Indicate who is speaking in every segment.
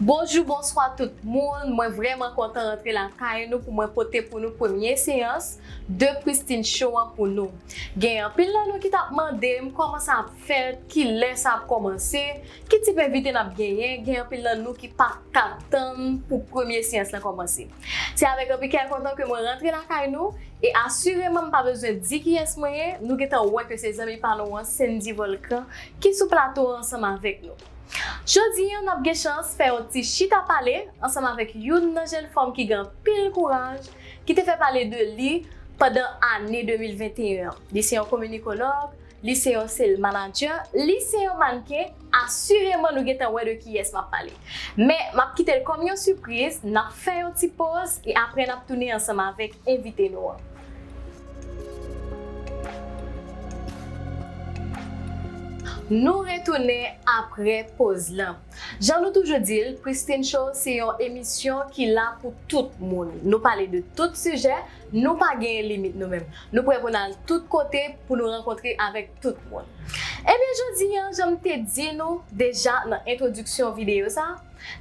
Speaker 1: Bonjou bonswa tout moun mwen vrèman kontan rantre lakay nou pou mwen pote pou nou premye seyans de Christine show an pou nou gen anpil nan nou ki tap mandem kòman sa ap fèt kilè sa ap kòmanse ki tip envite nap genyen gen anpil nan nou ki paka tann pou premye seyans lan kòmanse. Se avèk anpi kè kontan ke mwen rantre lakay nou, e asireman m pa bezwen di kiyès mwen ye, nou gentan wè ke se zanmi pa nou an, Sendy Volcan, ki sou plato a ansanm avèk nou. Jodi an, n ap gen chans fè yon ti chita pale ansanm avèk youn nan jenn fanm ki gen anpil kouraj, ki te fè pale de li pandan ane 2021 an. Li se yon kominikologue, Li se yon sales manager, li se yon mannequin, assurément nou gentan wè de kiyès map pale. Men, map kitel kòm yon surprise, nap fè yon ti poz e aprè nap tounen ansanm avèk envite nou an. Nou retounen aprè poz lan. Jan nou toujou dil, Christine Show se yon emisyon ki la pou tout moun. Nou pale de tout sijè, Nou pa genyen limit nou menm. Nou prè pou n al tout kote pou nou rankontre avèk tout moun. Ebyen jodi an, jan m te di nou deja nan entwodiksyon videyo sa,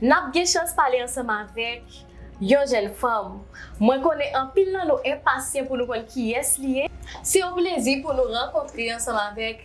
Speaker 1: n ap gen chans pale ansanm avèk yon jèn fanm. Mwen konnen anpil nan nou enpasyan pou nou konn kiyès li ye. Se yon plezi pou nou rankontre ansanm avèk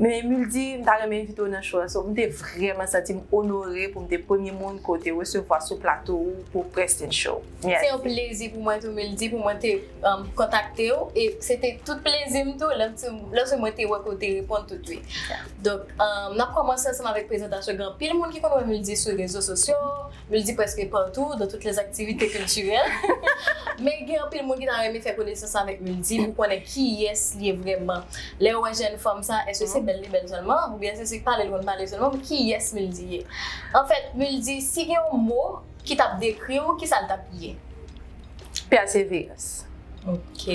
Speaker 2: Men Emile di, m ta renmen envite w nan show la. So, m te vrèman santi m onore pou m te premye moun ke w te resevwa sou plato ou pou Preston Show. Mèsi. Se yon plezi
Speaker 1: pou mwen tou, Emile di, pou mwen te kontakte w. E se te tout plezi m tou lòske mwen te wè ke w te reponn tousuit. Donk, n ap kòmanse ansanm avèk prezantasyon. Gen anpil moun ki konn wè Emile di sou rezo sosyo. Li di preske partout, dans toutes les activités culturelles. Men gen anpil moun ki ta renmen fè konesans avèk Muldi pou konnen kiyès li ye vrèman. Lè yo wè jèn fanm sa, èske se bèl li bèl sèlman? Oubyen èske se pale li konn pale sèlman? Men kiyès Muldi ye? Anfèt, Muldi, si gen yon mo ki t ap dekri w, kisa l t ap ye? Pèsevèans.
Speaker 2: Ok.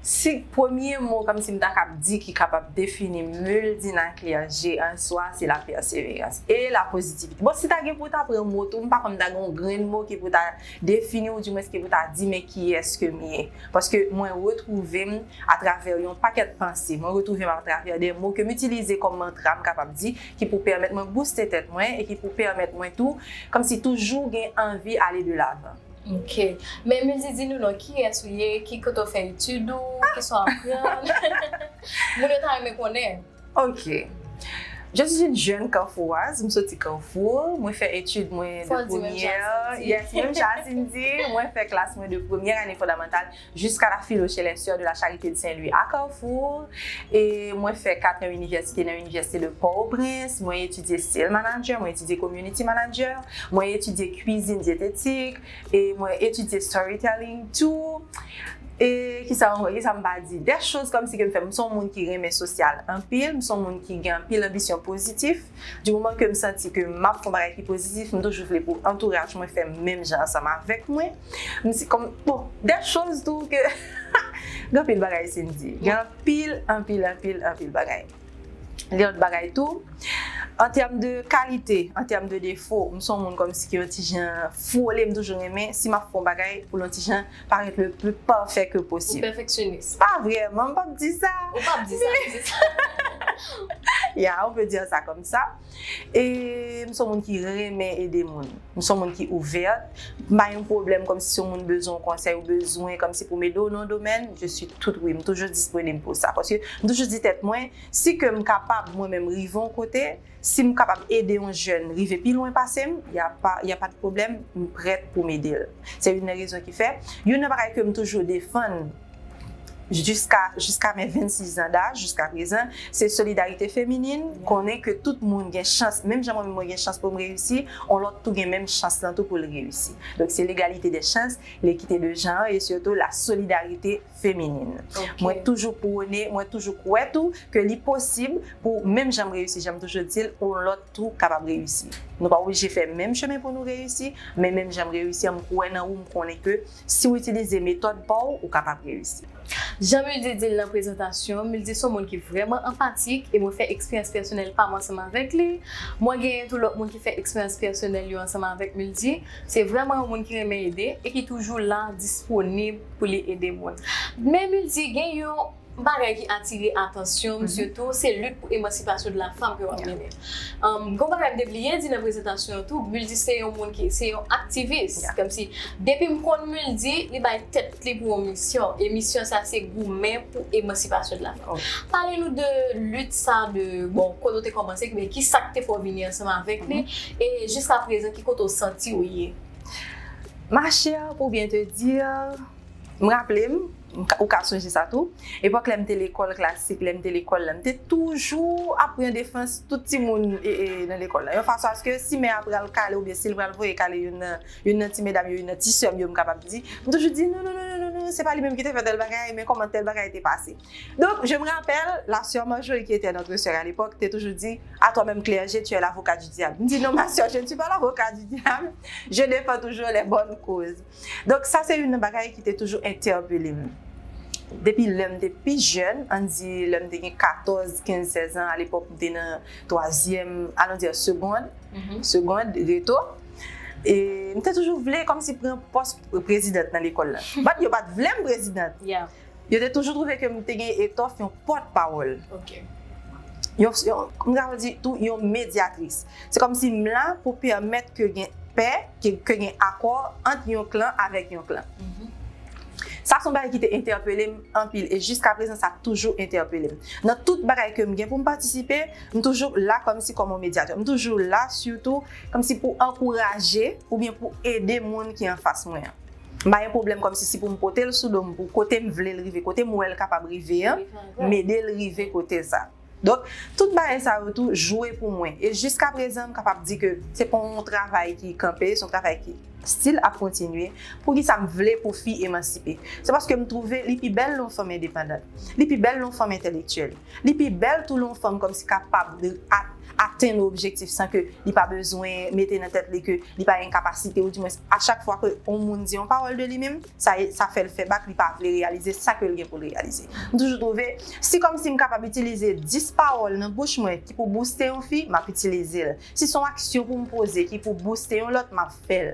Speaker 1: Si
Speaker 2: premye mo kòmsi m ta kab di ki kapab defini Muldina Clergé an swa se la pèseverans e la pozitivite. Bon si ta gen pou w ta pran mo tou m pa kwè m ta gen yon grenn mo ki pou ta defini ou dimwens ki pou ta di men kiyès ke m ye. Paske mwen retwouve m atravè yon pakèt panse, mwen retwouve m atravè de mo ke m itilize kòm mantra m kapab di ki pou pèmèt mwen bouste tèt mwen e ki pou pèmèt mwen tou kòmsi toujou gen anvi ale de lavan. Ok.
Speaker 1: Men Mildy di nou non kiyès ou ye, ki kote ou fè etid ou, kisa ou aprann. Moun yo ta renmen konnen. Ok.
Speaker 2: Je suis une jeune Carfouroise, m soti Carrefour, mwen fè etid mwen de premyè, yes menm jan a Cindy, mwen fè klas mwen de premyè ane fondamantal. Jiska la Philo chez les Soeurs de la Charité de Saint Louis à Carrefour e mwen fè 4 an inivèsite nan Inivèsite de Port au Prince, mwen etidye Sale Manager, mwen etidye Community Manager, mwen etidye Cuisine Diététique e mwen etidye Storytelling tou e kisa ankò kisa m pa di des choses comme si ke m fè, m son moun ki renmen sosyal anpil, m son moun ki gen anpil anbisyon pozitif. Du moman ke m santi ke m ap fè yon bagay ki pozitif, m toujou vle pou antouraj mwen fè menm jan ansanm avèk mwen. M si kòm, bon, dè choz tou ke gen anpil bagay Sindy. Gen anpil, anpil, anpil, anpil bagay. Gen lòt bagay tou, an tèm de kalite, an tèm de defo, m son moun kòmsi ki yon ti jan fwole, m toujou renmen si m ap fè yon bagay pou l yon ti jan Parèt le plus parfait que possible. Ou pèfeksyonist. Pa
Speaker 1: vrèman, m pap
Speaker 2: di sa. Ou pap di sa, m di
Speaker 1: sa.
Speaker 2: Ya, on peut dire ça comme ça. E m son moun ki renmen ede moun. M son moun ki ouverte. M pa yon pwoblèm kòmsi si yon moun bezwen yon konsèy ou bezwen kòmsi pou m ede w nan yon domèn, je suis tout oui. M toujou disponib pou sa. Paske m toujou di tèt mwen, si ke m kapab mwen menm rive yon kote, Si m kapab ede yon jèn rive pi lwen pase m, y a pa y a pa de pwoblèm, m prèt pou m ede l. Se youn nan rezon ki fè, youn nan bagay ke m toujou defann jiska jiska men 26 zan daj, jiska prezan, se solidarite feminin, konnen ke tout moun gen chans, menm jan mwen menm mwen gen chans pou m reyisi, yon lòt tou gen menm chans lan tou pou l reyisi. Donk se legalite dè chans, lekite de jan an e sitou la solidarite feminin. Mwen toujou pwone, mwen toujou kwè tou ke li posib pou menm jan m reyisi, jan m toujou di l, yon lòt tou kapab reyisi. Nou pa oblije fè menm chemen pou nou reyisi, men menm jan m reyisi an, m kwè nan ou, m konnen ke si w itilize metòd pa w, ou kapab reyisi.
Speaker 1: Jan Mildy di l nan prezantasyon, Mildy se yon moun ki vrèman anpatik e mwen fè eksperyans pèsonèl pa m ansanm avèk li. Mwen genyen tou lòt moun ki fè eksperyans pèsonèl yo ansanm avèk Mildy. Se vrèman yon moun ki renmen ede e ki toujou la, disponib. pou li ede moun. Men Multi gen yon bagay ki atire atansyon m sitou se lit pou emansipasyon de la fanm ke wap mennen. Gon bagay m te bliye di nan prezantasyon an tou, Multi se yon moun ki, se yon aktivis. Kòmsi depi m konn Multi, li bay tèt li pou yon misyon e misyon sa se goumen pou emansipasyon de la fanm. Pale nou de lit sa de, bon kote ou te kòmanse, men kisa k te fè w vini ansanm avèk li e jiskaprezan ki kote w santi w ye? Ma
Speaker 2: chère pour bien te dire, m raple m, ou ka sonje sa tou, epòk lè m te lekòl klasik, lè m te lekòl la, m te toujou ap pran defans tout timoun nan lekòl la. Yon fason aske si mè a pral kale oubyen si l pral voye kale youn nan ti medam yo, youn nan ti sè m yo m kapab di, m toujou di, non non non non non, se pa li menm ki te fè tèl bagay, men kòman tèl bagay te pase. Donk, je me rappelle, la soeur Marjorie qui était notre soeur à l'époque te toujou di, a toi meme clergé, tu es l'avocat du diable. M di, non ma soeur, je ne suis pas l'avocat du diable, je defends toujours les bonnes causes. Donk, sa se youn nan bagay ki te toujou entèpele m. Depi lè m te pi jèn, ann di lè m te gen 14, 15, 16 ans, a l'époque m te nan twazyèm, allons dire segond, segond, reto, e m te toujou vle kòmsi pran pòs prezidant nan lekòl la. Bat yo pa t vle m prezidant. Yo te
Speaker 1: toujou twouve
Speaker 2: ke m te gen etòf yon pòtpawòl. Ok.
Speaker 1: Yon, yon,
Speaker 2: m kapab di tou yon medyatris. Se kòmsi m la pou pèmèt ke gen pè, ke, ke gen akò ant yon klan avèk yon klan. Sa se yon bagay ki te entèpele m anpil e jiskaprezan sa toujou entèpele m. Nan tout bagay ke m gen pou m patisipe, m toujou la kòmsi kòm yon medyatè. M toujou la sitou kòmsi pou ankouraje oubyen pou ede moun ki anfas mwen an. M pa gen pwoblèm kòmsi si pou m pote l sou do m pou kote m vle l rive, kote m wè l kapab rive an, m ede l rive kote sa. Donk, tout bagay sa yo tou jwe pou mwen. E jiskaprezan m kapab di ke se pa yon travay ki kanpe, se yon travay ki stil ap kontinye. Poukisa m vle pou fi emansipe? Se paske m twouve li pi bèl lè yon fanm endepandant. Li pi bèl lè yon fanm entelektyèl. Li pi bèl tou lè yon fanm kòmsi kapab atenn objektif san ke li pa bezwen mete nan tèt li ke li pa gen kapasite ou di mwens a chak fwa ke yon moun di yon pawòl de li menm sa fè l fè bak li pa vle reyalize sa ke l gen pou l reyalize. M toujou twouve si kòmsi m kapab itilize 10 pawòl nan bouch mwen ki pou bouste yon fi m ap itilize l. Si son aksyon pou m poze ki pou bouste yon lòt m ap fè l.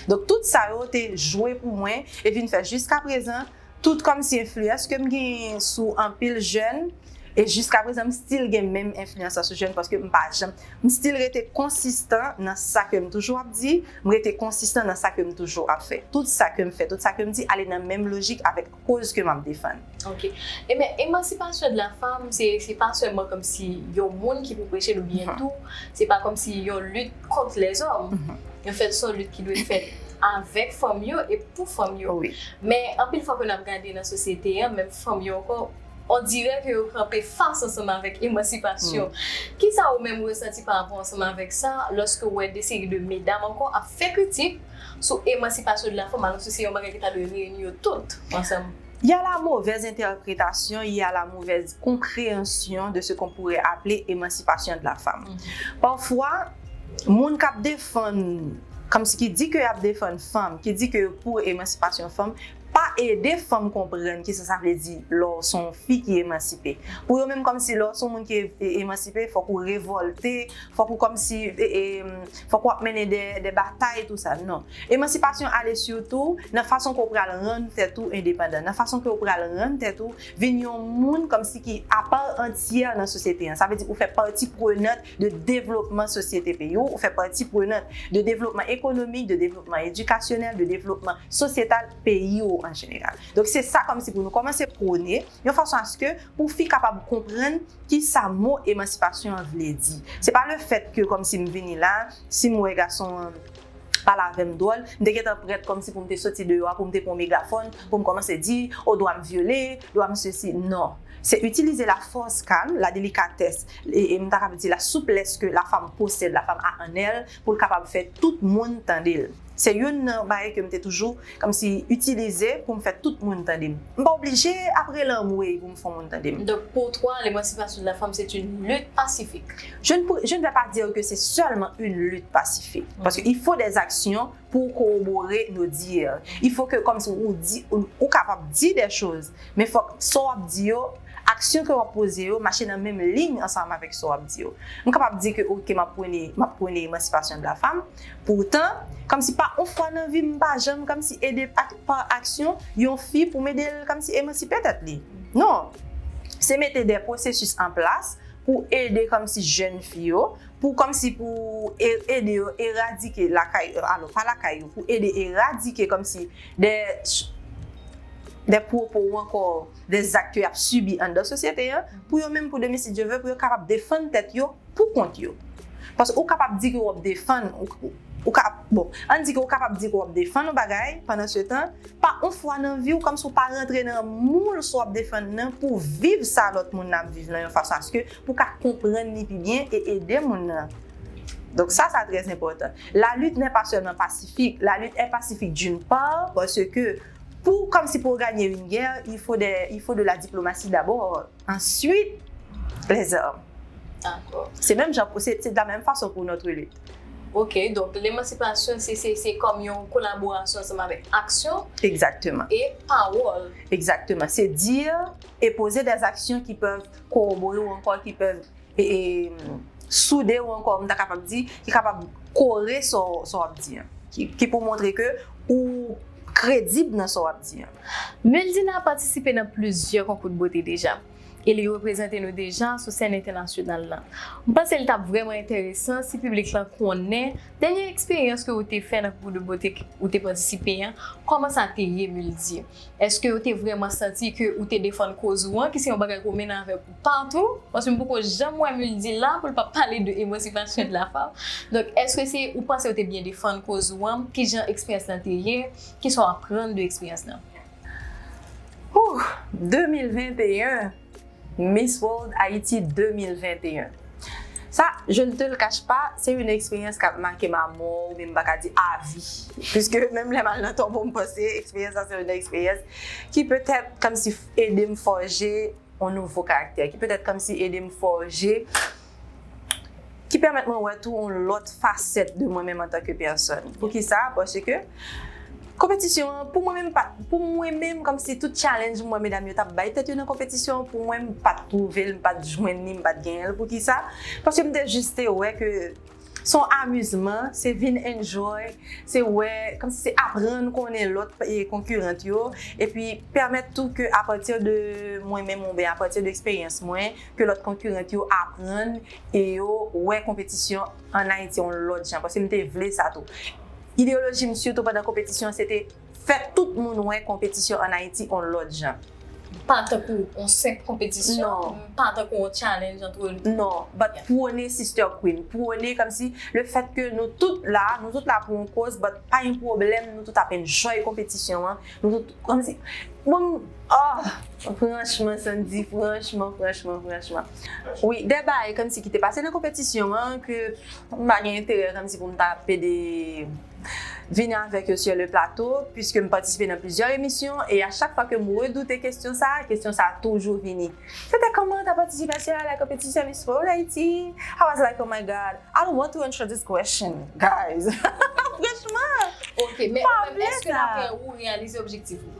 Speaker 2: Donk tout sa yo te jwe pou mwen e vin fè jiskaprezan Tout kòmsi enfliyans ke m gen sou anpil jèn e jiska prezan m stil gen menm enfliyans la sou jèn paske m pa janm m stil rete konsistan nan sa ke m toujou ap di, m rete konsistan nan sa ke m toujou ap fè. Tout sa ke m fè, tout sa ke m di ale nan menm lojik avèk koz ke m ap defann. Ok. Ebyen
Speaker 1: emansipasyon de la fanm se se pa sèlman kòmsi yon moun ki pou preche l oubyen tou se pa kòmsi yon lit. kont lèzòm. An fèt, s on lit ki dwe fèt avèk fanm yo e pou fanm yo. Men,
Speaker 2: anpil fwa ke
Speaker 1: n ap gade nan sosyete an, menm fanm yo ankò, on dirè ke yo kanpe fas ansanm avèk emansipasyon. Ki sa ou menm ou resanti pa rapò ansanm avèk sa, lòske ou wè de seri de medam ankò ap fè kritik sou emansipasyon de la fanm, alòske se yon bagay ki ta dwe reyini yo tout ansanm? Y a la movèz
Speaker 2: entèpretasyon, y a la movèz konpreyansyon de se kon poure aple emansipasyon de la fam. Pafwa, moun k ap defann, kòm si ki di ke y ap defann fanm, ki di ke yo pou emansipasyon fanm, pa ede fanm konprann ki sa sa vle di lè w se yon fi ki emansipe. Pou yo menm kòm si lè w se yon moun ki emansipe, fòk ou revòlte, fòk ou kòm si fòk wap mennen dè dè batay tou sa non emansipasyon ale sitou nan fason ke w pral rann tèt ou endepandan nan fason ke w pral rann tèt ou vin yon moun kòmsi ki apa antyè nan sosyete an sa vle di ou fè pati prenant de devlopman sosyete peyi w ou fè pati prenant de devlopman ekonomik de devlopman edikasyonèl de devlopman sosyetal peyi w an jeneral donk se sa kòmsi pou nou kòmanse prone. yon fason aske pou fi kapab konprann ki sa mo emansipasyon an vle di. Se pa le fèt ke kòmsi m vini la, si m wè gason an pale avè m dwòl, m te gentan prèt kòmsi pou m te soti deyò a, pou m te pran megafòn, pou m kòmanse di, o dwa m vyole, dwa m sesi. Non. Se itilize la fòs kalm, la delikatès, e m ta kapab di la souplès ke la fanm posèd, la fanm a an èl, pou l kapab fè tout moun tande l. Se youn nan bagay ke m te toujou kòmsi itilize pou m fè tout moun tande m. M pa oblije ap rele anmweyy pou m fè yon moun tande m. Donk pou toi
Speaker 1: l'emancipation de la femme c'est une lutte pacifique? Je ne pou, je ne
Speaker 2: vais pas dire que c'est seulement une lutte pacifique. Paske il faut des actions pou w corroborer nos dires. Il faut que kòmsi ou di, ou kapab di des choses men fòk sa w ap di yo, Aksyon ke wap poze yo mache nan menm liy ansanm avèk sa wap di yo. M kapab di ke ok map pwene map pwene emansipasyon de la fam, poutan, kòmsi pa on fwa nan vi m m pa janm kòmsi ede ak pa aksyon yon fi pou m ede l kòmsi emansipe tèt li. Non! Se mete dè pwosesis an plas pou ede kòmsi jèn fi yo, pou kòmsi pou e ede yo eradike lakay yo alò pa lakay yo pou ede eradike kòmsi dè dè pwopo ou ankò de zak ke yap sibi anndan sosyete an, pou yo menm pou demen si Dye ve pou yo kapab defann tèt yo pou kont yo. Paske ou kapab di ke wap defann, ou ka, bon, ann di ke ou kapab di ke wap defann yon bagay, pandan se tan, pa yon fwa nan vi w kòm si w pa rantre nan moul sa wap defann nan pou viv sa lòt moun nan ap viv nan yon fason aske pou ka konprann li pi byen e ede moun nan. Donk sa sa trè enpòtan. La lutte n'est pas seulement pacifique, la lutte est pacifique d'une part paske Pou comme si pour gagner une guerre il faut des il faut de la diplomatie d'abord ensuite les armes D'accord.
Speaker 1: Se menm jan pou se
Speaker 2: se de la menm fason pou notre lutte. Ok donk
Speaker 1: lemansipasyon se se se kòm yon kolaborasyon ansanm avèk aksyon Exactement. e
Speaker 2: pawòl.
Speaker 1: Exactement. Se
Speaker 2: dire et poser des actions qui peuvent corroborer ou ankò ki pèv soude ou ankò m ta kapab di ki kapab kore sa w ap di an ki pou montre ke ou kredib nan sa w ap di an. Meldina
Speaker 1: patisipe nan plizyè konkou de bote deja e li reprezante nou deja sou sèn entènasyonal la. M panse li t ap vrèman enteresan si piblik lan konnen dènye eksperyans ke ou te fè nan konkou de bote ou te patisipe an kòman sa te ye Meldi? Èske yo te vrèman santi ke ou te defann koz ou an, ki se yon bagay ke w mennen avèk ou patou? Paske m poko janm wè Mul di la pou l pa pale de Emancipation de la Femme. Donk, èske se, ou panse ou te byen defann koz ou an? Ki jan eksperyans lan te ye? Ki sa w aprann de eksperyans lan? Hoo!
Speaker 2: 2021! Miss World Haïti 2021 Sa, je ne te le cache pas, se yon eksperyans k ap make m a mò oubyen m pa ka di a vi. Piske menm lè m al nan tonbo m panse eksperyans sa se yon eksperyans ki petèt kòmsi ede m fòje yon nouvo karaktè, ki petèt kòmsi ede m fòje ki pèmèt mwen wè tou on lòt fasèt de mwen menm antan ke pèsòn. Pou ki sa? Paske konpetisyon an, pou mwen menm pa, pou mwen menm kòm si tout challenge m wè medam yo t ap bay tèt yo nan konpetisyon an, pou mwen m pa t twouve l, m pa t jwenn li, m pa t genyen l. Pou ki sa? Paske m te jis te wè ke s on amizman, se vin enjoy, se wè, kòm si se aprann konnen lòt konkirant yo, epi pèmèt tou ke apati de mwen menm oubyen apati de eksperyans mwen, ke lòt konkurent yo aprann e yo wè konpetisyon an Ayiti yon lòt jan, paske m te vle sa tou. Ideyoloji m sitou pandan konpetisyon an se te fè tout moun wè konpetisyon an Ayiti yon lòt jan. Pa tankou
Speaker 1: yon senp konpetisyon, pa tankou
Speaker 2: yon challenge
Speaker 1: antre nou. Non, but pwone
Speaker 2: sister queen, pwone kòmsi le fèt ke nou tout la, nou tout la pou yon koz but pa yon pwoblèm nou tout ap enjoy konpetisyon an, nou tout kòmsi, bon Ohh franchman Sandy franchman franchman franchman wi de bagay kòmsi ki te pase nan konpetisyon an ke m pa gen enterè kòmsi pou m ta pede vini avèk yo sur le plateau puiske m patisipe nan plizyè emisyon e a chak fwa ke m redoute kesyon sa a kesyon sa a toujou vini se te kòman ta patisipasyon a la konpetisyon Miss World Haiti I was like oh my God I don't want to answer this question guys franchman ok men ou menm
Speaker 1: èske dapre ou ou reyalize objektif ou?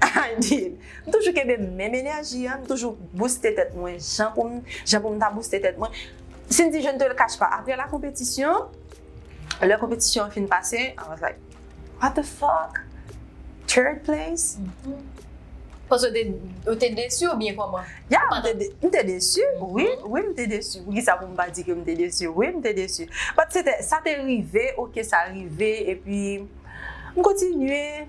Speaker 2: I did! M toujou kenbe menm enèji an, m toujou bouste tèt mwen jan pou m jan pou m ta bouste tèt mwen. Sindy, je ne te le cache pas, aprè la konpetisyon, lè konpetisyon an fin pase, I was like, what the fuck? Third place?
Speaker 1: Paske ou te desi oubyen kòman? Yeah, m te, m
Speaker 2: te desi, wi, wi m te desi. Poukisa pou m pa di ke m te desi? Wi, m te desi. But se te, sa te rive, ok, sa rive, epi m kontinye.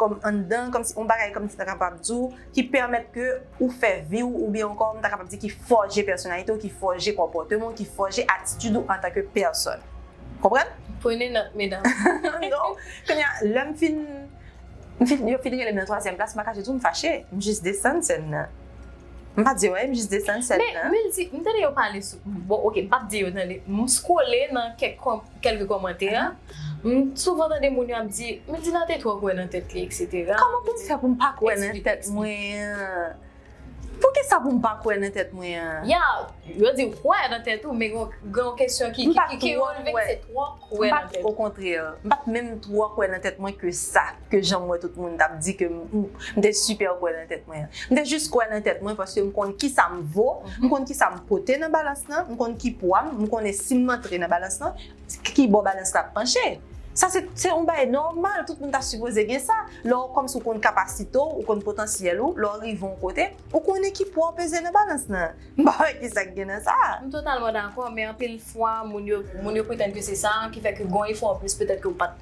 Speaker 2: kòm anndan, kòmsi yon bagay kòmsi ta kapab di w ki pèmèt ke ou fè vi w oubyen ankò m ta kapab di ki fòje pèsonalite w, ki fòje konpòteman w, ki fòje atitid ou antanke pèsòn. Konprann? Pwene nòt
Speaker 1: medam. Non.
Speaker 2: Kounye a, lè m fin, m fin, yo fin rele m nan twazyèm klas, m pa kache di w m fache. M jis desann sèn nan. M pa di w anyen, m jis desann sèn nan. Men, Mildy, m tande yo
Speaker 1: pale sou, bon, ok, m p ap di yo tande, m scrolle nan kèk kòm. Kèlke kòmantè, M souvan tande moun yo ap di, Midina te twò kwè nan tèt li, eksetera. Kòman pou m fè pou m pa
Speaker 2: kwè nan tèt mwen an? Poukisa pou m pa kwè nan tèt mwen an? Ya, yo
Speaker 1: di w kwè nan tèt ou, men gen yon kesyon ki releve ki se twò kwè nan tèt ou. Okontrè, m pa t
Speaker 2: menm twò kwè nan tèt mwen ke sa. ke jan m wè tout moun t ap di ke m te sipè kwè nan tèt mwen an. M te jis kwè nan tèt mwen paske m konn ki sa m vo, m konn ki sa m pote nan balans lan, m konn ki pwa m, m konnen si m antre nan balans lan, ki bò balans la ap panche. Sa se yon bagay nòmal, tout moun ta sipoze gen sa. Lè w kòmsi w konn kapasite w, ou konn potansyèl ou, lè w rive yon kote, ou konnen ki pwa w peze nan balans lan. M pa wè ki sa k gen nan sa a. M totalman dakò,
Speaker 1: men anpil fwa moun yo, moun yo pretann ke se sa ki fè ke gen yon efò anplis petèt ke w pa t.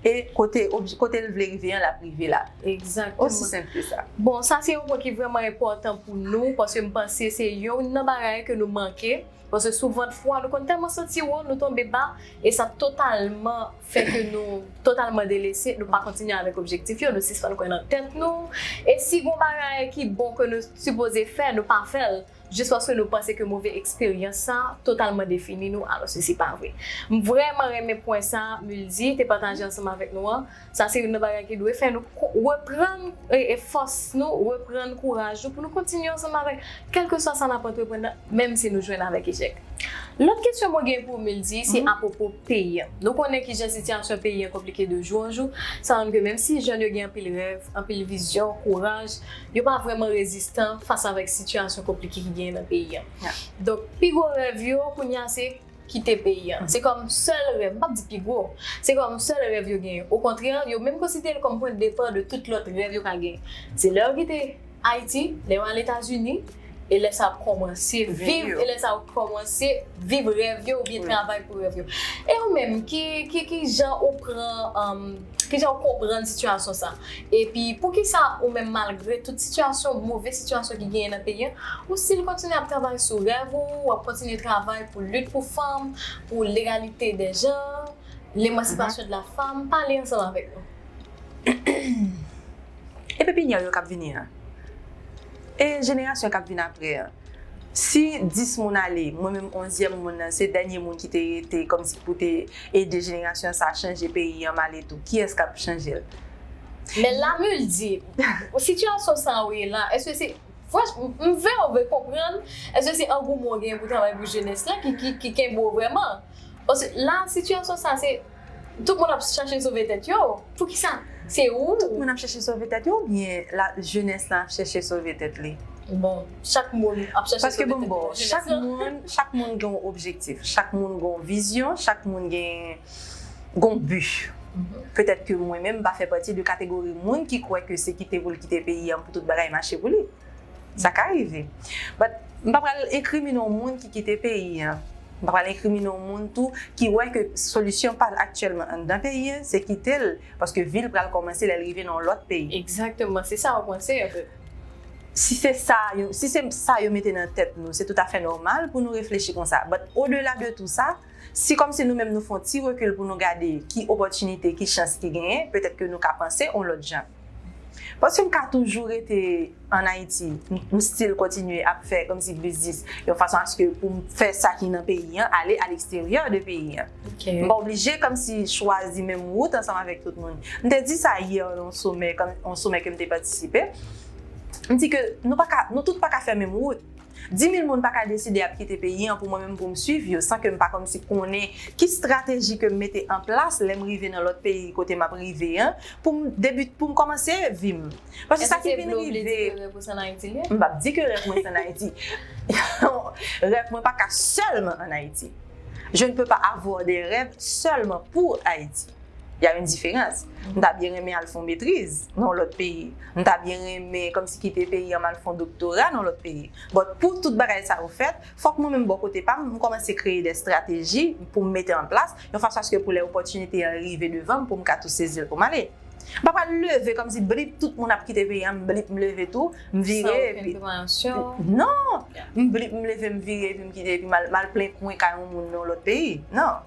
Speaker 2: E kote, kote l vle rive an l ap rive la. Egzakteman. Osi senp
Speaker 1: ke sa.
Speaker 2: Bon, sa se yon pwen ki
Speaker 1: vrèman enpòtan pou nou, paske m panse se youn nan bagay ke nou manke, paske souvent fwa nou konn tèlman santi wo, nou tonbe ba, e sa totalman fè ke nou totalman delese, nou pa kontinye avèk objektif yo, nou sispann kwè nan tèt nou, e si gon bagay ki bon ke nou sipoze fè, nou pa fè l. jis paske nou panse ke move eksperyans sa totalman defini nou alòske se pa vre. M vrèman renmen pwen sa Muldy te pataje ansanm avèk nou an, sa se youn nan bagay ki dwe fè nou reprann fòs nou, reprann kouraj nou pou nou kontinye ansanm avèk kèlkeswa sa n ap antreprann nan menm si nou jwenn avèk echèk. Lòt kesyon mwen gen pou ou Muldy se apwopo peyi an. Nou konnen kijan sitiyasyon peyi an konplike de jou an jou, sa montre ke menm si jèn yo gen anpil rèv, anpil vizyon, kouraj, yo pa vrèman rezistan fas avèk sitiyasyon konplike ki genyen nan peyi an. Donk, pi gwo rèv yo kounye a se kite peyi an. Se kòm sèl rèv, m pap di pi gwo, se kòm sèl rèv yo genyen. Okontrè, yo menm konsidere l kòm pwen de depar de tout lòt rèv yo ka genyen. Se lè yo kite Ayiti, lè yo al Etazini, E lè sa ap kòmanse viv, e lè sa ou kòmanse viv rèv yo oubyen travay pou rèv yo. E ou menm, ki jan ou pran, ki jan ou konprann sitiyasyon sa? Epi pou ki sa ou menm malgre tout sitiyasyon, move sitiyasyon ki genyen nan peyi an, ou stil kontinye ap travay sou rèv ou, ou ap kontinye travay pou lit pou fanm, pou legalite dè janr, lemansipasyon de la fanm, pale ansanm avèk nou.
Speaker 2: E pepinière yo kap vini an? E jenerasyon k ap vin apre an? Si 10 moun ale, mwen menm onzyèm moun nan, se dènye moun ki te rete kòmsi pou te ede jenerasyon sa chanje peyi an male tou, kiyès k ap chanje l? Men
Speaker 1: Lamil di, Sitiyasyon sa a ou ye la a, èske se, m vle ou vle konprann, èske se angouman ou genyen pou travay pou jenès la ki kenbe ou vrèman? Paske la a sitiyasyon sa a se. Tout moun ap chache sove tèt yo? Poukisa se ou? Tout moun ap chache sove
Speaker 2: tèt yo oubyen la jenès lan ap chache sove tèt li? Bon, chak
Speaker 1: moun ap chache sove tèt li. Paske bon m ba w, chak
Speaker 2: moun, chak moun gen yon objektif, chak moun gen yon vizyon, chak moun gen yon bi. Petèt ke mwen menm m pa fè pati de kategori moun ki kwè ke se kite pou l kite peyi an pou tout bagay mache pou li. Sa ka rive. But, m pa pral enkrimine yon moun ki kite peyi an. M pa pral enkrimine yon moun tou ki wè ke solisyon pa l aktyèlman anndan peyi an, se kite l, paske vi l pral kòmanse lè l rive nan yon lòt peyi. Egzakteman. Se sa ou
Speaker 1: panse, an fèt. Si se
Speaker 2: sa, si se sa yo mete nan tèt nou, se toutafè nòmal pou nou reflechi konsa. But, odela de tou sa, si kòmsi nou menm nou fè yon ti rekil pou nou gade ki opòtinite, ki chans ki genyen, petèt ke nou ka panse yon lòt jan. Paske m ka toujou rete an Ayiti, m still kontinye ap fè kòmsi biznis yon fason aske pou m fè sa ki nan peyi an ale a leksteryè de peyi an. M pa oblije kòmsi chwazi menm wout ansanm avèk tout moun. M te di sa yè nan yon somè, yon somè ke m te patisipe. M di ke nou pa ka, nou tout pa ka fè menm wout. Di mil moun pa ka deside ap kite peyi an pou mwen menm pou m swiv yo san ke m pa kòmsi konnen ki strateji ke m mete an plas lè m rive nan lòt peyi kote m ap rive an pou m debi pou m kòmanse vi m. Paske sa ki vin rive. Èske se vle ou vle di ke rèv ou se an Ayiti li ye?
Speaker 1: M pap di ke rèv mwen
Speaker 2: se an Ayiti. Rèv mwen pa ka sèlman an Ayiti. Je ne peux pas avoir des rêves seulement pour Haïti. Y a une différence. M ta byen renmen al fè yon metriz nan yon lòt peyi. M ta byen renmen kòmsi kite peyi an m al fè yon doktora nan yon lòt peyi. But pou tout bagay sa yo fèt, fòk mwen menm bò kote pa m, m kòmanse kreye des strateji pou m mete an plas, yon fason aske pou lè opòtinite an rive devan m pou m ka tou sezi l pou m ale. M pa pral leve kòmsi blip tout moun ap kite peyi an m blip m leve tou, m vire epi. San okenn prepansyon. Non! M blip m leve m vire epi m kite epi m al plen kwen kay yon moun nan yon lòt peyi. Non!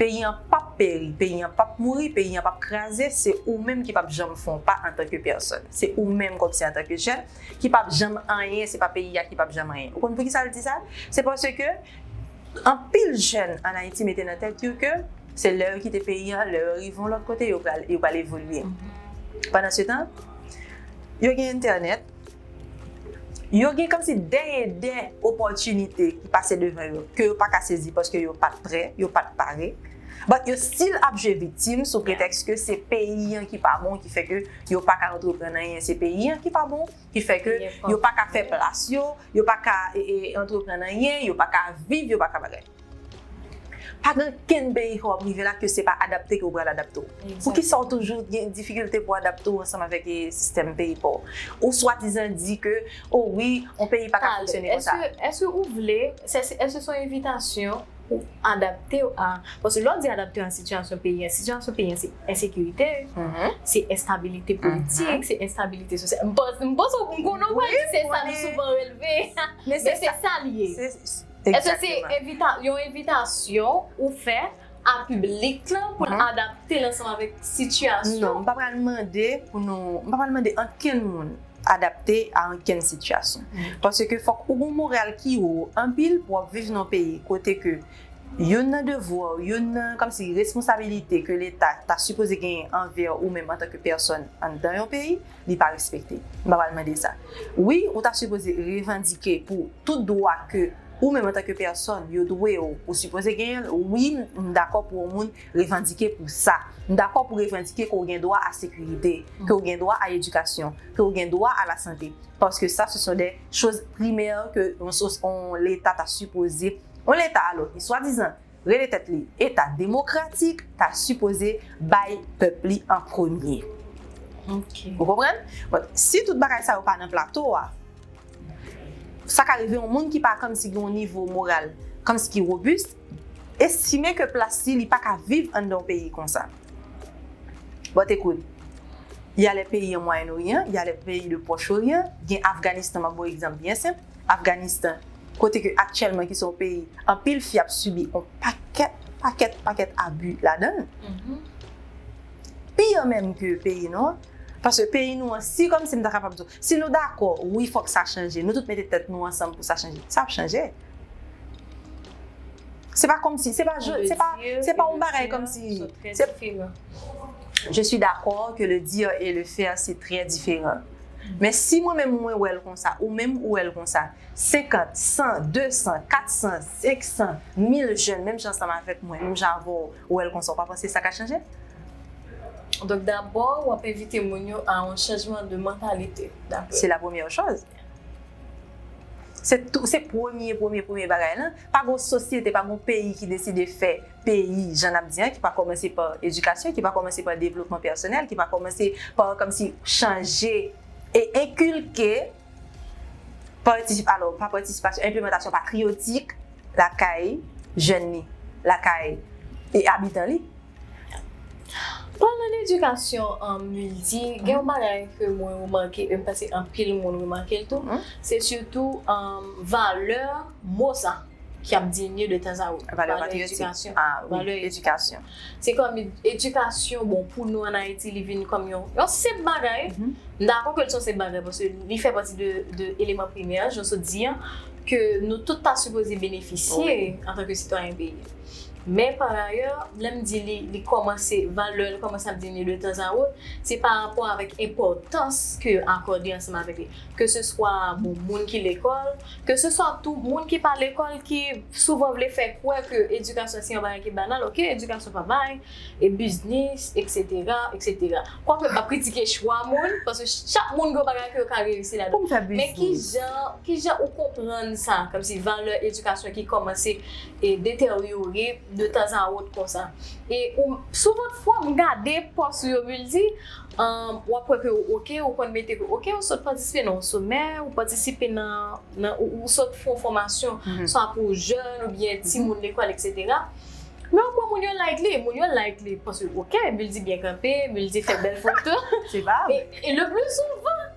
Speaker 2: Peyi an pap peri, peyi an pap mouri, peyi an pap kraze, se ou menm ki pap janm fè yon pa antanke pèsòn. Se ou menm kòmsi antanke jèn ki pap janm anyen, se pa peyi a ki pap janm anyen. Ou konn poukisa l di sa? Se paske anpil jèn an Ayiti mete nan tèt yo ke se lè yo kite peyi an, lè yo rive yon lòt kote yo pral evolye. Pandansetan, yo gen entènèt. Yo gen kòmsi dè e dè opòtinite ki pase devan yo ke yo paka sezi paske yo pat prè, yo pat pare. But yo still ap jwe viktim sou pretèks ke se peyi an ki pa bon ki fè ke yo paka antreprann anyen, se peyi an ki pa bon ki fè ke yo paka fè plas yo, yo paka antreprann anyen, yo paka viv, yo paka bagay. Pa gen okenn peyi ke wap rive la ke se pa adapte ke ou pral adapte w. Poukisa ou toujou gen difikilte pou adapte w ansanm avèk sistèm peyi pa w? Ou swadizan di ke o wi yon peyi pa ka fonksyone konsa. Eske ou vle,
Speaker 1: eske se yon envitasyon pou adapte w a, paske lè w di adapte w a sitiyasyon peyi an, sitiyasyon peyi an se ensekirite, se enstabilite politik, se enstabilite sosyal, m panse, m panse m konnen w pral di se sa nou souvan releve, men se sa li ye. Èske se yon envitasyon ou fè a piblik lan pou l adapte l ansanm avèk sitiyasyon? Non, m pa pral mande
Speaker 2: pou nou, m pa pral mande ankenn moun adapte a ankenn sitiyasyon. Paske fòk ou gon moral ki wo anpil pou w ap viv nan yon peyi kote ke youn nan devwa w, youn nan kòmsi responsabilite ke leta ta sipoze genyen anvè ou menm antanke pèsòn anndan yon peyi, li pa respekte. M pa pral mande sa. Wi, ou ta sipoze revandike pou tout dwa ke ou menm antanke pèsòn yo dwe ou, ou sipoze genyen l. Wi, m dakò pou yon moun revandike pou sa. M dakò pou revandike ke w gen dwa a sekirite, ke w gen dwa a edikasyon, ke w gen dwa a lasante. Paske sa se son de choz primè ke yon leta ta sipoze, yon leta alò ki swadizan rele tèt li eta demokratik ta sipoze bay pèp li an premye.
Speaker 1: Ou konprann?
Speaker 2: Bon, si tout bagay sa yo pa nan plato a, sa ka rive yon moun ki pa kòmsi gen yon nivo moral kòmsi ki wobis, estime ke plas li, li pa ka viv anndan yon peyi konsa. Bon, ekout, y a lè peyi an Mwayenn Oryan, y a lè peyi de Pwòch Oryan, gen Afganistan m ap ba w egzanp byen senp, Afganistan, kote ke aktyèlman ki se yon peyi anpil fi ap sibi yon pakèt, pakèt, pakèt abi ladan l. Pi an menm ke peyi nou an. Paske peyi nou an, si kòmsi m ta kapab di w, si nou dakò, wi fòk sa chanje, nou tout mete tèt nou ansanm pou sa chanje, sa ap chanje. Se pa kòmsi, se pa jodi, se pa, se pa yon bagay kòmsi, se. Je suis d'accord que le dire et le faire se trè diferan. Men si mwen menm mwen wè l konsa, ou menm ou wè l konsa, 50, 100, 200, 400, 500, 1000 jèn menm jan ansanm avèk mwen, menm jan avè w, wè l konsa, ou pa panse sa ka chanje?
Speaker 1: Donk dabò w ap envite moun yo a yon chanjman de mantalite, daprè w. Se la premyè
Speaker 2: chòz. Se premye premye premye bagay la. Pa gen yon sosyete, pa gen yon peyi ki deside fè. peyi jan n ap di an ki pa kòmanse pa edikasyon, ki pa kòmanse pa devlopman pèsonèl, ki pa kòmanse pa kòmsi chanje e enkilke patisip alò pa patisipasyon enplemantasyon patriyotik lakay jèn li, lakay e abitan li. Palan
Speaker 1: dedikasyon an m di gen yon bagay ke mwen remake e m panse anpil moun remake l tou se sitou valè mo sa. ki ap diminye de tan a outo. Valè patriyotik.
Speaker 2: Valè edikasyon.
Speaker 1: Se
Speaker 2: kòm
Speaker 1: edikasyon, bon pou nou an Ayiti li vin kòm yon senp bagay. M dakò ke l se yon senp bagay paske li fè pati de eleman primè jan nou sot di an ke nou tout ta sipoze benefisye antanke sitwayen peyi a. Men pa rayè, lè m di li kòmanse, valè l kòmanse ap diminye de tan a outo, se pa rapò avèk enpòtans ke yo akòde ansanm avèk li. Ke se swa bon moun ki lekòl. Ke se swa tou moun ki pa lekòl ki souvan vle fè kwè ke edikasyon se yon bagay ki banal, ok edikasyon pa bay, e biznis, eksetera, eksetera. Kwake m pa p kritike chwa moun, paske chak moun gen yon bagay ke yo ka reyisi ladan. Pou m fè biznis. Men ki jan, ki jan ou konprann sa, kòmsi valè edikasyon ki kòmanse e deteryore de tanzawot konsa. E ou, souvan fwa m gade pòs ou yo, m di. Umm wap kwè ke ou ok ou konn mete ke ok ou sot patisipe nan yon somè ou patisipe nan nan ou sot fon fòmasyon swa pou jèn oubyen timoun lekòl etc men ou kwè moun yo like li moun yo like li paske ok Mildy byen kanpe Mildy fè bèl foto
Speaker 2: e le pli souvan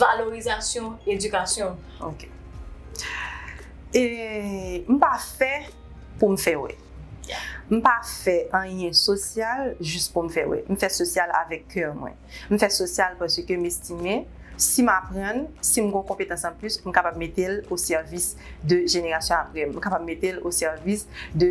Speaker 1: valorizasyon edikasyon ok e
Speaker 2: m pa fè pou m fè wè m pa fè anyen sosyal jis pou m fè wè m fè sosyal avèk kè mwen m fè sosyal paske m estime si m aprann si m gon konpetans anplis m kapab mete l osèvis de jenerasyon aprè m m kapab mete l osèvis de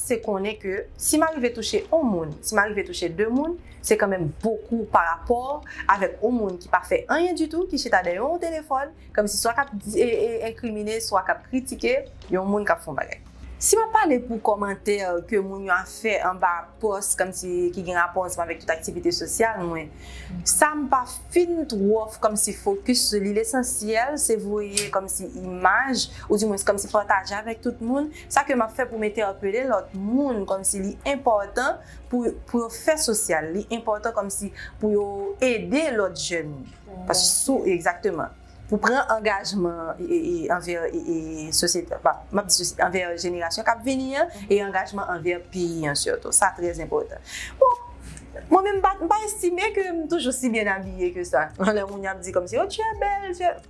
Speaker 2: se konnen ke si m arive touche on moun, si m arive touche de moun, se kanmenm bokou pa rapò avèk on moun ki pa fè anyen ditou, ki chita dèyè on telefòn, kòmsi swa k ap enkrimine, swa k ap kritike yon moun k ap fè on bagay. Si m ap pale pou kòmantè ke moun yo ap fè anba pòs kòmsi ki gen rapò ansanm avèk tout aktivite sosyal mwen, sa m pa fin twò kòmsi fokis sou li, lesansyèl se voye kòmsi imaj, oudimwens kòmsi pataje avèk tout moun, Sa ke map fè pou m entèpele lòt moun kòmsi li enpòtan pou pou yo fè sosyal, li enpòtan kòmsi pou yo ede lòt jèn. Paske sou egzakteman. Pou pran angajman anvè sosyete an, map di sosyete, anvè jenerasyon kap vini an e angajman anvè peyi an sitou. Sa trè enpòtan. Bon, mwen menm m pa estime ke m toujou si byen abiye ke sa. Lè moun ap di kòmsi, oh tu es belle, tu es.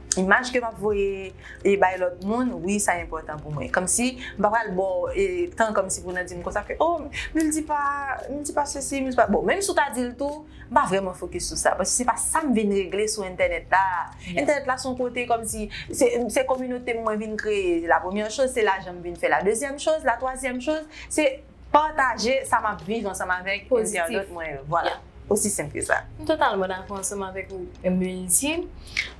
Speaker 1: Imaj ke map
Speaker 2: voye e bay lòt moun wi sa enpòtan pou mwen kòmsi m pa pral baw tan kòmsi pou nan dim konsa ke oh mil di pa mil di pa sesi mil di pa bon menm si w ta dil tou m pa vrèman fokis sou sa paske se pa sa m vin regle sou entènèt la entènèt la son kote kòmsi se kominote m mwen vin kreye la premyè choz se lajan m vin fè la dezyèm choz la twazyèm choz se. Pataje sa map viv ansanm avèk entènot mwen yo. Vwala. Osi senp ke sa. M totalman dakò ansanm
Speaker 1: avèk ou Melvin.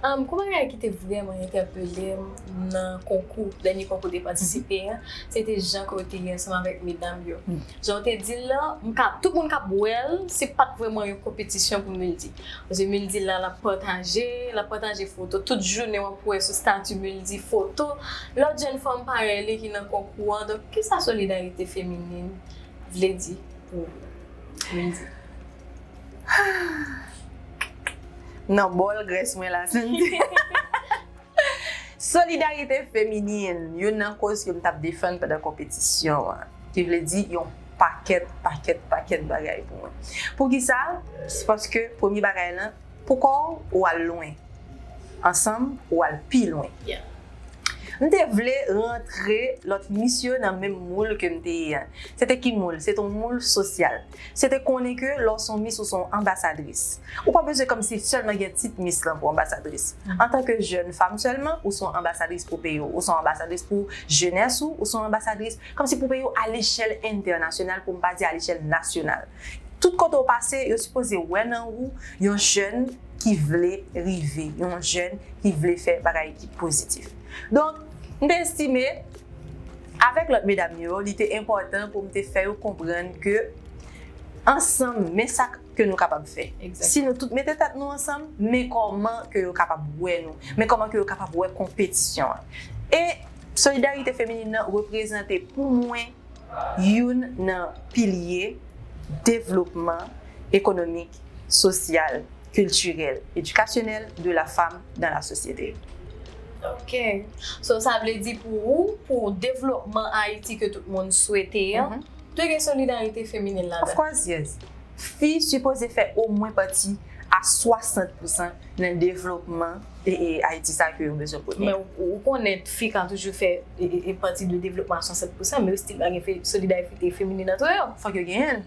Speaker 1: Gwo bagay ki te vrèman entèpele m nan konkou, dènye konkou ou te patisipe a, se te jan ke w te ye ansanm avèk medam yo. Jan w te di l lan, m ka, tout moun kap wè l, se pat vrèman yon konpetisyon pou Mildy. Paske Mildy la, lap pataje, lap pataje foto. Tout jounen wap wè sou stati Mildy foto lòt jenn fanm parèy li ki nan konkou an. Ki sa solidarite feminin vle di pou ou
Speaker 2: Windy? Nan bòl grès mwen la Sandy. Solidarite feminin, youn nan koz ke m t ap defann pandan konpetisyon an, ki vle di yon pakèt, pakèt, pakèt bagay pou mwen. Poukisa? Se paske premye bagay lan, Pou kò w, ou al lwen. Ansanm, ou al pi lwen.
Speaker 1: M te
Speaker 2: vle rantre lòt mis yo nan menm moul ke m te ye a. Se te ki moul? Se te yon moul sosyal. Se te konnen ke lè w se yon mis, ou se yon anbasadris. Ou pa bezwen kòmsi sèlman gen tit mis lan pou anbasadris. Antanke jèn fanm sèlman, ou se yon anbasadris pou peyi w. Ou se yon anbasadris pou jenès ou. Ou se yon anbasadris kòmsi pou peyi w alechèl entènasyonal, pou m pa di alechèl nasyonal. Tout kote ou pase, yo sipoze wè nan ou yon jèn ki vle rive, yon jèn ki vle fè bagay ki pozitif. Donk, m te estime, avèk lòt medam yo, li te enpòtan pou m te fè yo konprann ke ansanm, men sa ke nou kapab fè. Si nou tout mete tèt
Speaker 1: nou
Speaker 2: ansanm, men kòman ke yo kapab wè nou, men kòman ke yo kapab wè konpetisyon an. E solidarite feminin nan reprezante pou mwen, youn nan pilye devlopman ekonomik, sosyal, kiltirèl, edikasyonèl de la fam dan la sosyete. Ok.
Speaker 1: So sa vle di pou ou, pou devlopman Ayiti ke tout moun swete an, dwe gen solidarite feminin ladan l? Of course yes.
Speaker 2: Fi sipoze fè omwen pati a 60 pousan nan devlopman Ayiti sa ke yo bezwen pou li. Men ou konnen
Speaker 1: fi ka toujou fè pati de devlopman a 60 pousan men yo stil pa gen solidarite feminin antre yo. Fòk yo genyen l.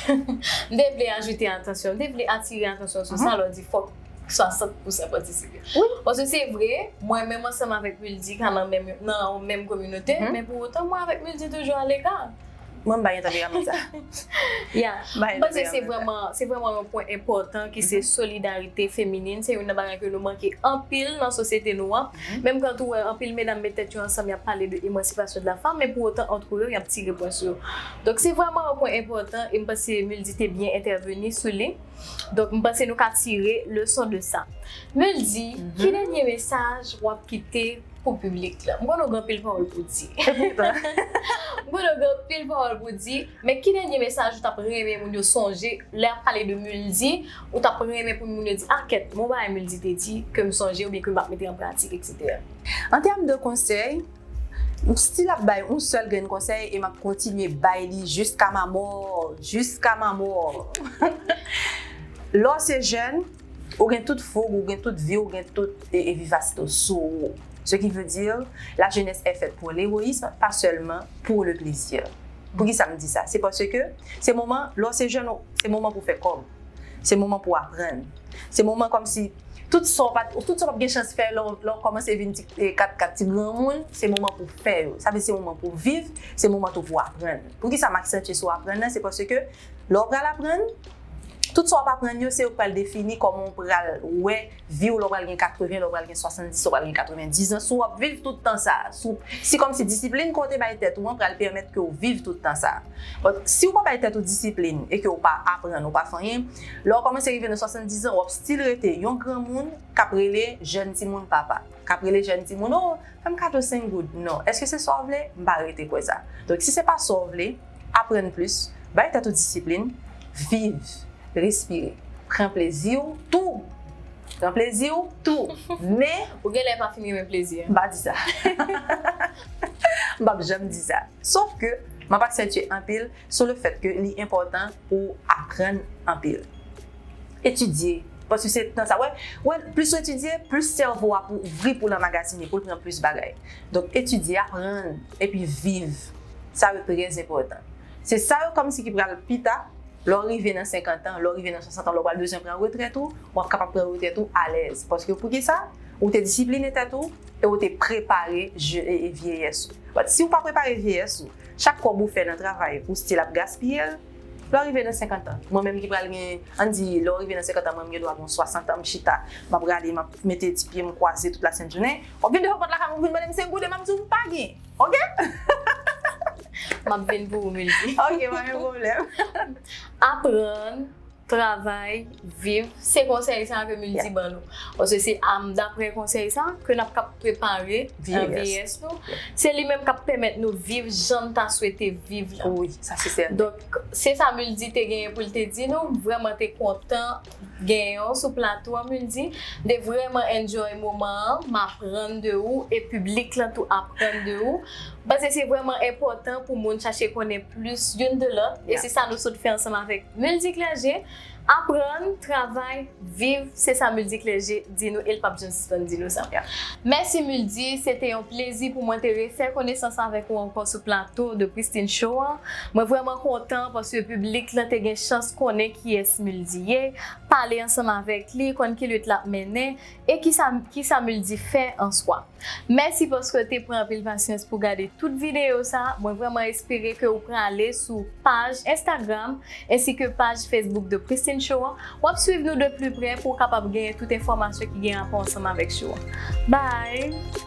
Speaker 1: M te vle ajoute atansyon, m te vle atire atansyon sou sa lè w di fòk 60 pousan patisipe. Paske se
Speaker 2: vre,
Speaker 1: mwen menm ansanm avèk Wildy ka nan yon menm kominote men pou otan mwen avèk Wildy toujou aleka. Mwen bay yon
Speaker 2: tanperaman sa. Ya,
Speaker 1: mwen panse se vreman, se vreman yon pwen enpòtan ki se solidarite feminin. Se youn nan bagay ke nou manke anpil nan sosyete nou an. Menm kan tou wè anpil medam met tèt yo ansanm yap pale de emansipasyon de la fanm, men pou otan antre yo yap tire pwen sou yo. Donk se vreman yon pwen enpòtan e mwen panse Muldy te byen entèveni sou li. Donk mwen panse nou ka tire leson de sa. Muldy, ki dènye mesaj wap kite? pou piblik la. M konnen w gen anpil pawòl pou w di. E poutan. M konnen w gen anpil pawòl pou w di, men ki dènye mesaj ou t ap renmen moun yo sonje lè y ap pale de Muldy, ou t ap renmen pou moun yo di, ah kèt, gen yon bagay Muldy te di ke m sonje oubyen ke m ap mete an pratik eksetera? An tèm de
Speaker 2: konsèy, m stil ap bay yon sèl grenn konsèy e m ap kontinye bay li jiska ma mort, jiska ma mort. Lè w se jèn, Ou gen tout foug, ou gen tout vi, ou gen tout vivasite w sou ou. Ce qui veut dire, la jeunesse est faite pour l'héroïsme, pas seulement pour le plaisir. Poukisa m di sa? Se paske se moman, lè w se jèn ou, se moman pou w fè kòb, se moman pou w aprann, se moman kòmsi tout sa w pa t, tout sa w pa t gen chans fè lè w kòmanse vin ti katkat, ti granmoun, se moman pou w fè yo. Sa vle di se moman pou w viv, se moman tou pou w aprann. Poukisa m aksantye sou aprann nan? Se paske Lè ou pral aprann, tout sa w ap aprann yo se yo k pral defini kòman w pral wè vi w lè w pral gen 80, lè w pral gen 70, lè w pral gen 90 zan, si w ap viv tout tan sa a, si w, se kòmsi disiplin ke w te bay tèt ou an pral pèmèt ke w viv tout tan sa a. But, si w pa bay tèt ou disiplin e ke w pa aprann, ou pa fè anyen, lè w kòmanse rive nan 70 zan, w ap still rete yon granmoun k ap rele jèn timoun papa, k ap rele jèn timoun, oh, fè m kado 5 goud. Non. Èske se sa w vle? M pa rete kwè sa. Donk, si se pa sa w vle. Aprann plis, bay tèt ou disiplin, viv, respire, pran plezi w tou! Pran plezi w tou! Men. Ou gen lè pa fin
Speaker 1: renmen plezi an. M pa di sa.
Speaker 2: M pap janm di sa. Sof ke, m ap aksantye anpil sou le fèt ke li enpòtan pou w aprann anpil. Etidye, paske se tan sa. Wè, wè, plis ou etidye, plis sèvo a pou ouvri pou l anmagazine, pou l pran plis bagay. Donk, etidye, aprann, epi viv sa yo trè enpòtan. Se sa yo kòmsi ki pral pi ta, lè w rive nan senkantan, lè w rive nan swasantan, lè w pral bezwen pran retrèt ou, w ap kapab pran retrèt ou alèz. Paske poukisa? Ou te disipline tèt ou e ou te prepare vyeyès ou. Bat si ou pa prepare vyeyès ou, chak kòb ou fè nan travay ou stil ap gaspiye l, lè w rive nan senkantan. Mwen menm ki pral gen, an n di lè w rive nan senkantan mwen m gen dwa gen yon swasantan m chita, m ap rale m ap mete ti pye m kwaze tout lasentjounen, Ou vin devan pòt lakay mwen ou vin mande m se gode map di w m pa gen ok.
Speaker 1: Map vin pou ou Mildy. Ok pa gen pwoblèm. Aprann, travay, viv se konsèy sa ke Mildy ban nou. Paske se daprè konsèy sa ke nap kap prepare vyeyès nou. Se li menm kap pèmèt nou viv jan n ta swete viv la. Wi sa se sèten. Donk se sa Mildy te genyen pou l te di nou. M vrèman te kontan. Gen yon sou plato an mun di, mte vrèman enjoy moman an, m aprann de ou e piblik lan tou aprann de ou. M panse se vrèman enpòtan pou moun chache konnen plis youn de lòt e se sa nou sot fè ansanm avèk Multiclergé, aprann, travay, viv, se sa Multiclergé di nou e l pap janm sispann di nou sa. Mèsi Muldy, se te yon plezi pou mwen te refè konesans avèk ou ankò sou plato The Christine Show an. Mwen vrèman kontan paske piblik lan te gen chans konnen kiyès Muldy ye, pale ansanm avèk li, konn ki lit l ap mennen e kisa Muldy fè an swa. Mèsi paske w te pran anpil pasyans pou w gade tout videyo sa, mwen vrèman espere ke w prale sou paj Instagram ensi ke paj Facebook The Christine Show an, w ap swiv nou de pli prè pou w kapab genyen tout enfòmasyon ki gen rapò ansanm avèk show an. Bye!